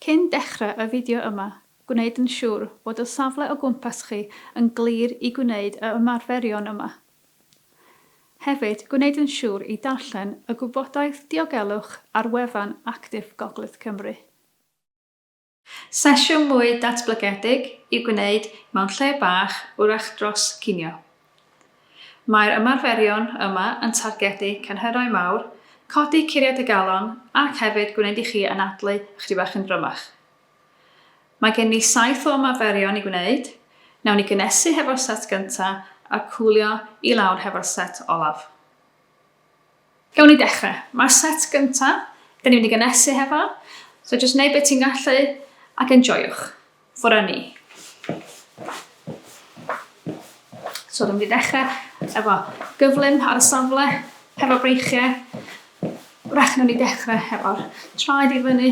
Cyn dechrau y fideo yma, gwneud yn siŵr bod y safle o gwmpas chi yn glir i gwneud y ymarferion yma. Hefyd, gwneud yn siŵr i darllen y gwybodaeth diogelwch ar wefan Actif Gogledd Cymru. Sesiwn mwy datblygedig i'w gwneud mewn lle bach wrach dros ginio. Mae'r ymarferion yma yn targedu cynhyrau mawr, codi curiad y galon ac hefyd gwneud i chi anadlu ychydig bach yn drymach. Mae gen ni saith o ymarferion i gwneud, nawn ni gynnesu hefo'r set gyntaf a cwlio i lawr hefo'r set olaf. Gawn ni dechrau. Mae'r set gyntaf, dan ni'n mynd i gynnesu hefo, so jyst wneud beth ti'n gallu ac enjoiwch. Ffwrdd â ni. So dwi'n mynd i ddechrau efo gyflym ar y safle, hefo breichiau. Wrach nawn ni ddechrau hefo'r traed i fyny,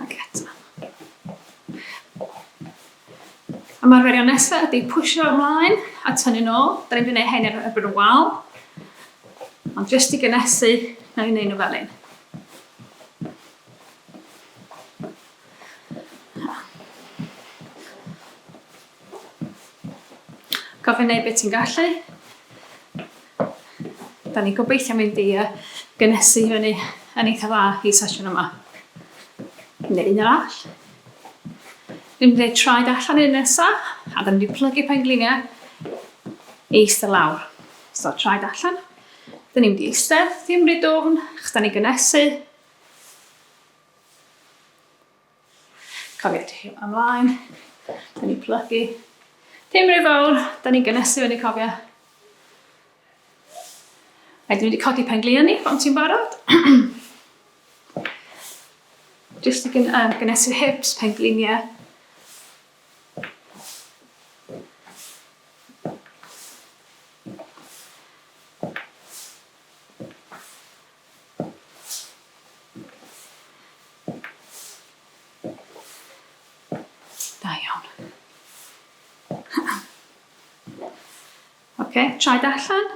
Ac eto. Ymarferio nesaf ydy pwysio ymlaen a tynnu nôl. Da ni'n gwneud hyn ar erbyn y wal. Ond jyst i gynesu, na i'n neud nhw fel un. Gofyn neu beth ti'n gallu. Da ni gobeithio mynd i uh, gynesu fyny yn eitha dda i sesiwn yma. Neu un arall. Dwi'n mynd i traed allan i'r nesa, a da ni wedi plygu pengliniau i eistedd lawr. So, traed allan. Da ni'n mynd i eistedd, ddim rhy dwfn, chos da ni gynesu. Cofiwch trio am laen. Da ni'n plygu. Dim rhy fawr, da ni'n gynesu fyny cofio. Rhaid i ni wedi codi pen glio ni, pan ti'n barod. Just i gyn, uh, gynesu hips, pen glinia. Da iawn. Ok, traed allan.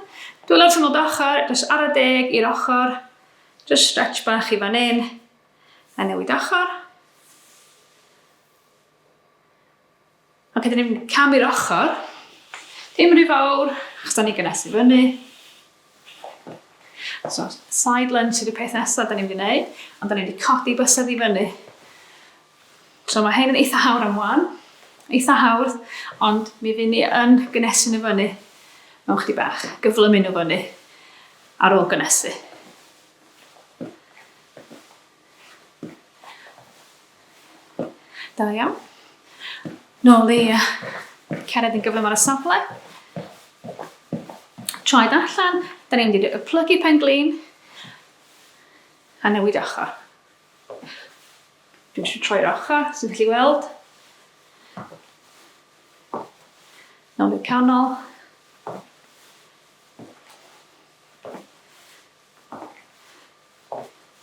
Dwi'n lawr trwy'n ochr, jyst ar y deg i'r ochr. Jyst stretch bach i fan hyn. A newid ochr. Ok, dyn ni'n cam i'r ochr. Dim rhy fawr, achos da ni'n gynnes i fyny. So, side lunge ydy'r peth nesaf da ni'n mynd i wneud, ond da ni'n mynd i codi bysedd i fyny. So mae hyn yn eitha hawdd am wan, eitha hawdd, ond mi fy ni yn gynnesu nhw fyny mewn chdi bach, gyflymu nhw fyny ar ôl gynnesu. Da iawn. Nôl i cered yn gyflym ar y safle. Traed allan, da ni'n mynd i plygu pen glin a newid ochr. Dwi'n eisiau troi'r ochr, sy'n gallu weld. Nôl i'r canol.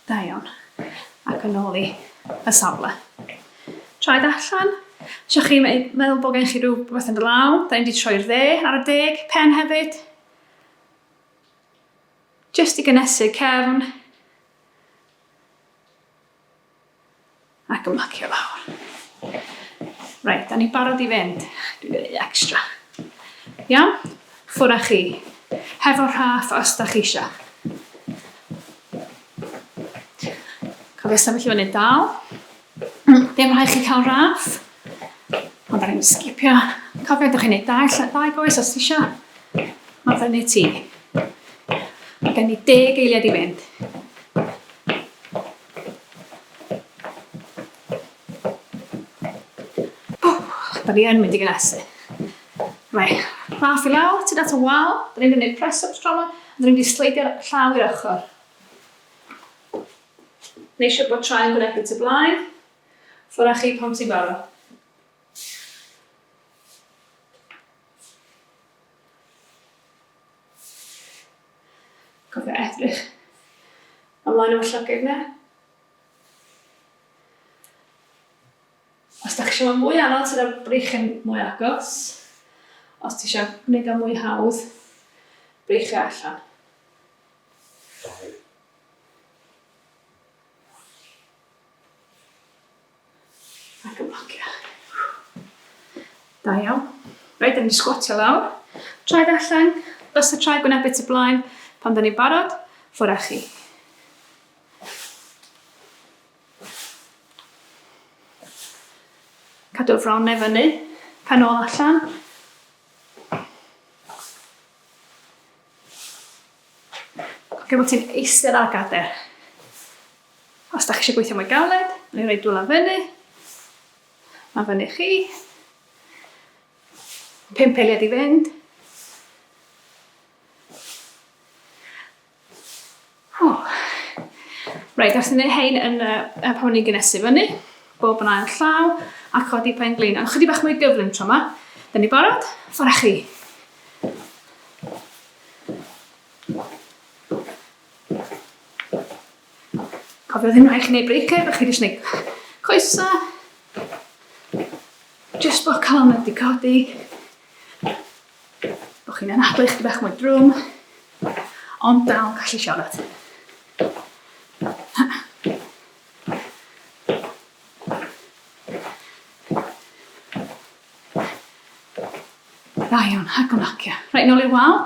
Da iawn. Ac yn ôl i y safle. Traed allan. Isio chi meddwl bod gen chi rhyw beth yn dy law. Da ni'n di troi'r dde ar y deg. Pen hefyd. Just i gynesu cefn. Ac ymlacio lawr. Reit, da ni'n barod i fynd. Dwi'n gwneud extra. Iawn? Ffwr â chi. Hefo rhaff os da chi eisiau. Cofio sefyll i fyny dal. Dim rhaid chi cael rhaff. Ond da ni'n sgipio. Cofio, da chi'n gwneud dau lle, dau goes os eisiau. Mae fyny ti. Mae gen i deg eiliad i fynd. Da ni yn mynd i gynnesu. Mae rhaff i lawr, ti'n at y wal, da ni'n mynd press-ups tro yma, a da ni'n mynd i sleidio'r llaw i'r ochr. Neu eisiau bod tra'n gwnebu tu blaen, ffwrdd â chi pan ti'n barod. Cofio edrych ymlaen am y llygaid na. Os da chi eisiau fod mwy anodd, sydd o'r breichyn mwy agos. Os ti eisiau gwneud o mwy hawdd, breichio allan. Ac yn blocio. Da iawn. Reit, da ni'n sgwatio lawr. Traed allan, os y traed gwneud bit y blaen, pan da ni'n barod, ffwr â chi. Cadw'r fron neu fyny, pen ôl allan. Ac bod ti'n eistedd ar gader. Os da chi eisiau gweithio mwy galed, neu roi dwylo fyny, mae fyny chi. Pimp eiliad i fynd. Oh. Reit, os ni'n ei hein yn y, y pan ni'n gynesu fyny, bob yn ail llaw, a codi pen glin. Ond chydig bach mwy gyflym tro yma. Dyn ni barod? Ffwrdd chi. Cofio ddim rhaid chi wneud breaker, rhaid chi jyst wneud coesa. Jyst bod calon wedi codi. Bod chi'n anadlu chdi bach mwy drwm, ond dal yn gallu siarad. Da iawn, ac o'n acio. Rhaid nôl i'r wal,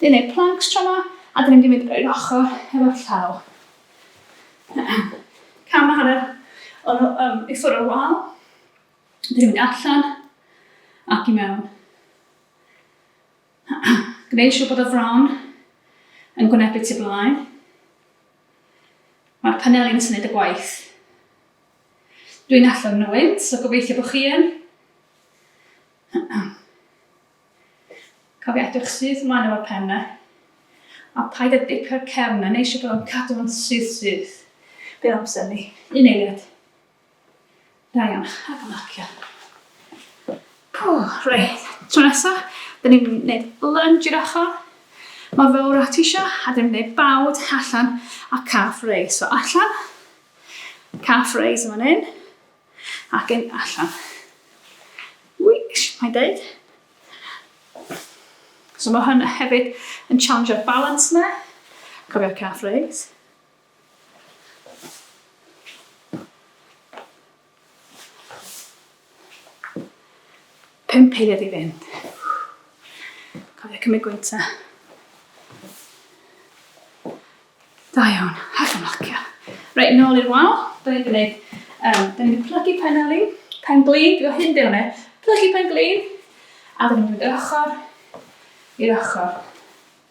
dyn neud planks tro ma, a dyn ni'n mynd i fynd i'r ochr efo'r llaw. Cam a hanner o'n um, i ffwrdd o'r wal. Dyn ni'n mynd allan ac i mewn. Gwneud siŵr bod y fron yn gwynebu tu blaen. Mae'r paneli yn syniad y gwaith. Dwi'n allan nhw wynt, so gobeithio bod chi yn. Cofio edrych syth ymlaen o'r pen na. A paid â dipio'r cefn na, neu siŵr bod o'n cadw yn syth syth. Bydd amser ni. Un eiliad. Da iawn, a fy marcio. Pwh, reit, tro nesa, dyn ni'n gwneud lunge i'r ochr, mor fawr a ti isio, a dyn ni'n gwneud bawd allan a calf raise. So allan, calf raise yn fan hyn, ac yn allan. Wish, mae'n deud. So mae hwn hefyd yn challenge'r balance yna. Cofio'r calf raise. Pump eiliad i fynd. Cofio cymryd gwyntau. Da iawn, ac yn locio. Reit, nôl i'r wal. Da ni wedi gwneud, um, da ni wedi plygu pen ali, pen glin, dwi'n hyn dyn nhw, plygu pen glin, a da ni'n mynd i'r ochr, i'r ochr.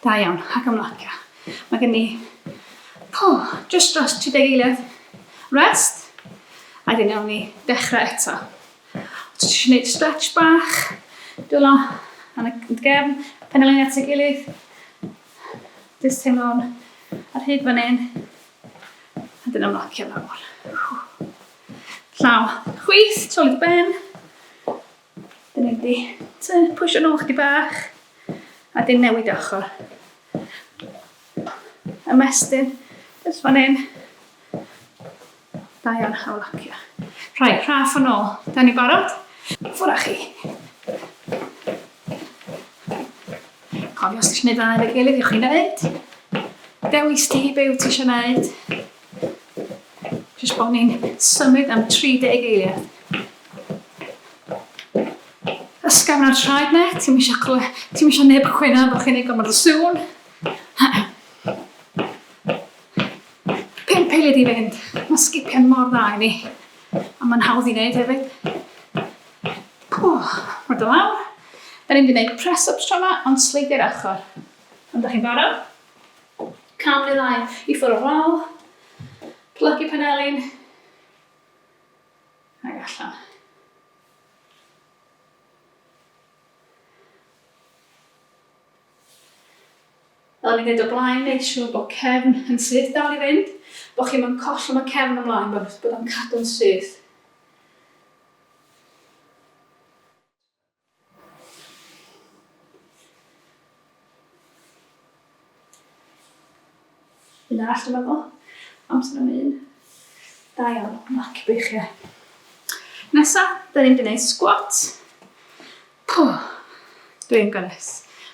Da iawn, ac ymlacio. Mae gen i po, just dros 30 eiliad rest, a dyn iawn ni dechrau eto. Os ti eisiau gwneud stretch bach, dwylo yn y gefn, pen y lein at y gilydd, jyst teimlo'n ar hyd fan hyn, a dyn ymlacio lawr. Llaw chwith, trolid ben, Dyn ni wedi pwysio nhw chdi bach a dyn newid ochr. Ymestyn, jyst fan hyn. Da iawn, hawl locio. Rhai, rhaff yn ôl. Da ni barod? Ffwr â chi. Cofio os ti eisiau gwneud dda efo'i gilydd, ewch i wneud. Dewis ti be wyt ti eisiau gwneud. Jyst bod ni'n symud am 30 eiliad. Ysgafn ar traed net, ti'n eisiau clywed, ti'n eisiau neb chwynaf bod chi'n ei gymryd o sŵn. Pimp eiliad i fynd, mae sgipiau mor dda i ni, a mae'n hawdd i wneud hefyd. Pwch, mae dy lawr. Da ni'n mynd i wneud press-ups tro yma, ond sleidiau'r achor. Ond da chi'n barod? Cam neu ddau i ffwrdd o'r wal. Plygu panelin. Ac allan. Fel ni'n dweud o blaen, neud siŵr bod cefn yn syth dal i fynd, bod chi'n yn collwm y cefn ymlaen, bod o'n cadw'n syth. Un arall dyma fo. Amser am un. Da iawn, mac beichiau. Nesa, da ni'n mynd squat. Pwh, dwi'n gynnes.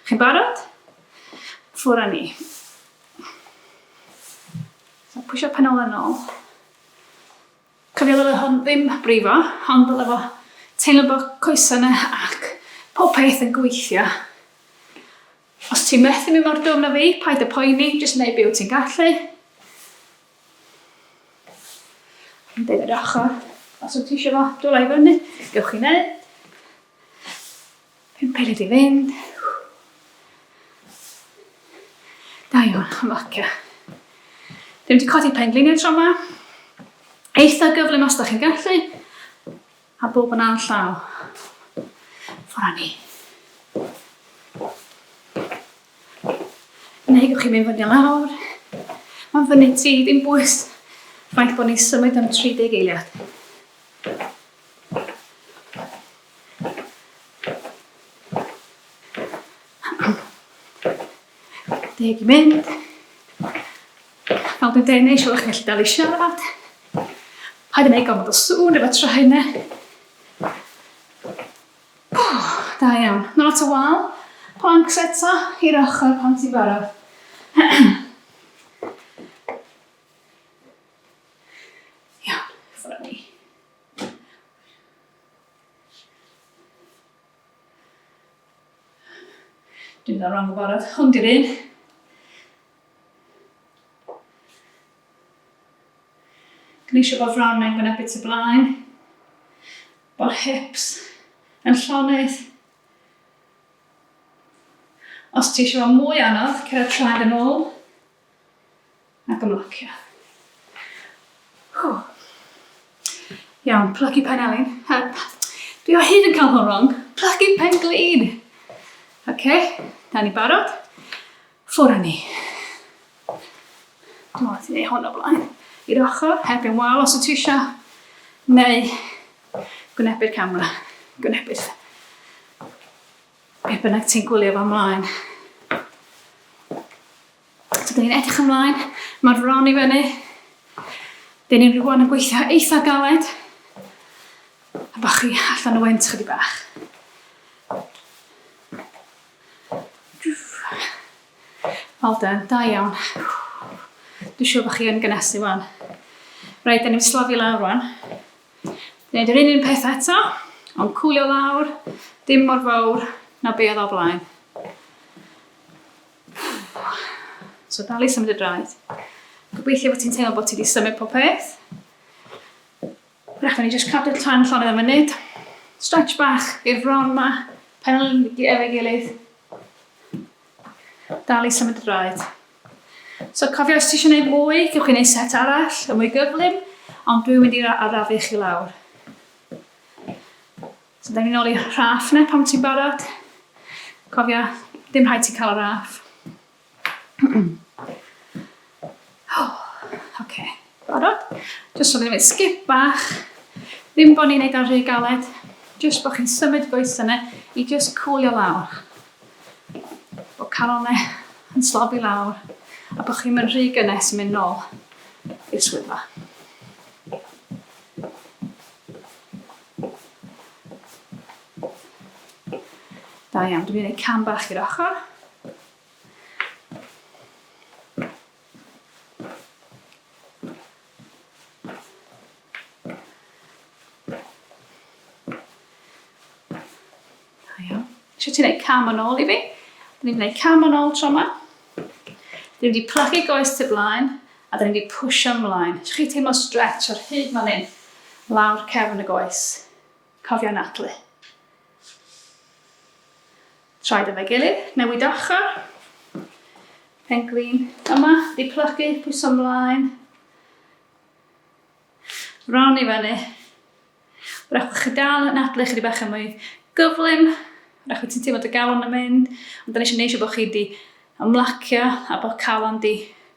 Chi'n barod? Ffwr â ni. So, pwysio pen ôl yn ôl. Cofia ddyle hwn ddim brifo, hon dyle fo teimlo bo coesa na ac pob peth yn gweithio. Os ti methu mynd mor dwfn a fi, paid a poeni, jyst neu be wyt ti'n gallu. Yn dweud yr ochr, os wyt ti eisiau fo, dwla i fyny, gewch chi neu. Pum peled i fynd. Da iawn, ymlacio. Dwi wedi codi pengliniau tro yma. Eitha gyflym os da chi'n gallu. A bob yn all llaw. Ffora ni. Neu gwych chi'n mynd fyny lawr. Mae'n fyny ti, dim bwys. Faint bod ni'n symud am 30 eiliad. Deg i mynd. Nawr dwi'n deg neu eisiau chi'n gallu dal i siarad. Paid yn ei gofod o sŵn efo tra hynna. Da iawn. Nawr at y wal. Plank seta i'r ochr pan ti'n barod. Iawn, ffwr â ni. Dwi'n dda rong o barod, hwn di'r un. Gneisio bod fron mewn gwynebu tu blaen. Bod hips yn llonydd. Os ti eisiau fod mwy anodd, cyrraedd traed yn ôl. Ac ymlacio. Whew. Iawn, plygu pen elin. Dwi o hyd yn cael hwn wrong. Plygu pen glin. Oce, okay, da ni barod. Ffwr â ni. Dwi'n meddwl ti'n ei hwn o blaen. I'r ochr, hebyn wal os y ti eisiau. Neu, gwynebu'r camera. Gwynebu'r... Beth bynnag ti'n gwylio fo mlaen. So, dyn ni'n edrych ymlaen, mae'r fron i fyny. Dyn ni'n rhywun yn gweithio eitha galed. A bod chi allan o wynt chydig bach. Well done, da iawn. Dwi'n siŵr bod chi yn gynesu fan. Rhaid, dyn ni'n slofi lawr fan. Gwneud yr un un peth eto, ond cwlio lawr, dim mor fawr na be oedd o blaen. So dal i symud y draed. Gobeithio bod ti'n teimlo bod ti wedi symud pob peth. Rhaid ni jyst cadw'r tan llonydd am munud. Stretch bach i'r fron ma, pen efo'i gilydd. Dal i symud draed. So cofio os ti eisiau gwneud mwy, gewch chi wneud set arall, y mwy gyflym, ond dwi'n mynd i arafu chi lawr. So da ni'n ôl i rhaff na pam ti'n barod. Cofio, dim rhaid ti cael raff. Oce, barod? Jyst rhywbeth i wneud sgip bach. Ddim bod ni'n neud o'n rhy galed. Jyst bod chi'n symud goesau yna i jyst cwlio lawr. Bod calonau yn slofi lawr a bod chi'n mynd rhy gynnes yn mynd nôl i'r swyddfa. Da iawn, dwi'n mynd i wneud cam bach i'r ochr. Eisiau ti'n gwneud cam yn ôl i fi? Dyn ni'n gwneud cam yn ôl tro yma. Dyn ni wedi plagu goes tu blaen a dyn ni wedi pwysio ymlaen. Eisiau chi teimlo stretch ar hyd fan hyn, lawr cefn y goes. Cofia anadlu. Traed efo'i gilydd, newid ochr. Penglin yma, di plygu, pwyso mlaen. Ron i fyny. Wrach bod chi dal yn adlu chydig bach yn mwy gyflym. Wrach bod ti'n teimlo dy galon yn mynd. Ond da ni eisiau neisio bod chi di ymlacio a bod calon di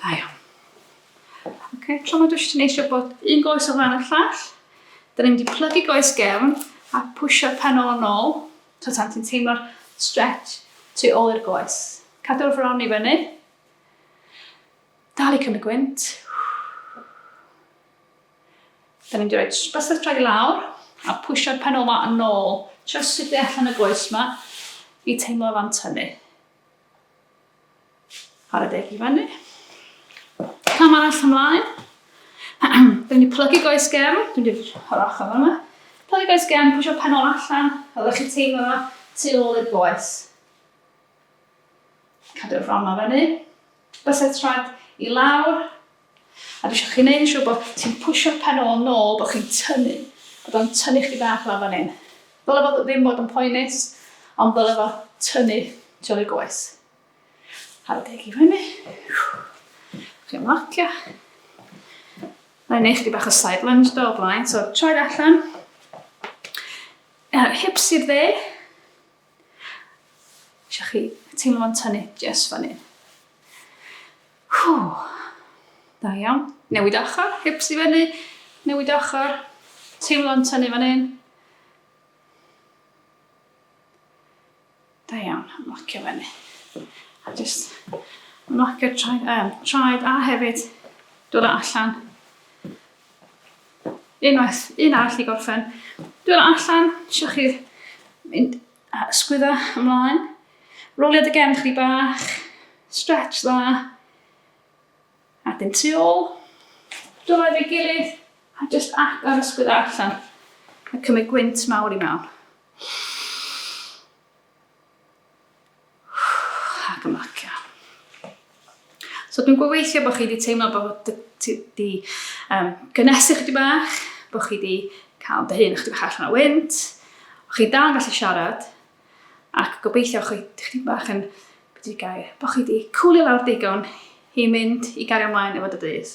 Da iawn. Ok, tro ma dwi eisiau neisio bod un goes o flaen y llall. Da ni'n mynd i plygu goes gefn a pwysio pen ôl yn ôl. So tan ti'n teimlo'r stretch tu ôl i'r goes. Cadw'r fron i fyny. Dal i cymryd gwynt. Dyn ni'n mynd i roi bysedd dra i lawr a pwysio'r pen ola yn ôl jyst i de allan y goes yma i teimlo fan tynnu. Ar y deg i fyny. Cam arall ymlaen. Dyn ni'n plygu goes gem, dwi'n mynd i'r yr ochr yma. Plygu goes gem, pwysio'r pen ola allan, a ddech chi teimlo yma tu ôl i'r goes. Cadw'r fron yma fyny. Bysetrad i lawr a dwi isio chi neud yn siŵr bod ti'n pwsio'r pen ôl nôl, bod chi'n tynnu, bod o'n tynnu chdi bach lawr fan hyn. Ddyle fod ddim bod yn poenus, ond ddyle fo tynnu tu ôl i'r goes. Ar y deg i fyny. Chi'n ymlacio. Mae'n neud chdi bach o side lunge do o blaen, so troi allan. Uh, hips i'r dde. Isio chi teimlo fo'n tynnu jes fan hyn. Hww. Da iawn. Newid ochr, hips i fyny. Newid ochr. Teimlo yn tynnu fan hyn. Da iawn, ymlacio fyny. A just ymlacio traed, um, traed a hefyd dod allan Unwaith, un arall i gorffen. Dwi'n allan, eisiau chi mynd a ysgwydda ymlaen. Rolio dy gefn chdi bach, stretch dda. A dim tu ôl. Dod efo'i gilydd a just agor ysgwydda allan. A cymryd gwynt mawr i mewn. Ac ymlacio. So dwi'n gweithio bod chi wedi teimlo bod ti wedi um, gynesu chdi bach, bod chi wedi cael dy hun chdi bach allan o wynt, o chi dal yn gallu siarad, ac gobeithio chi chdi bach yn beth wedi gair, bod chi wedi cwlio lawr digon i mynd i gario ymlaen efo dy dydd.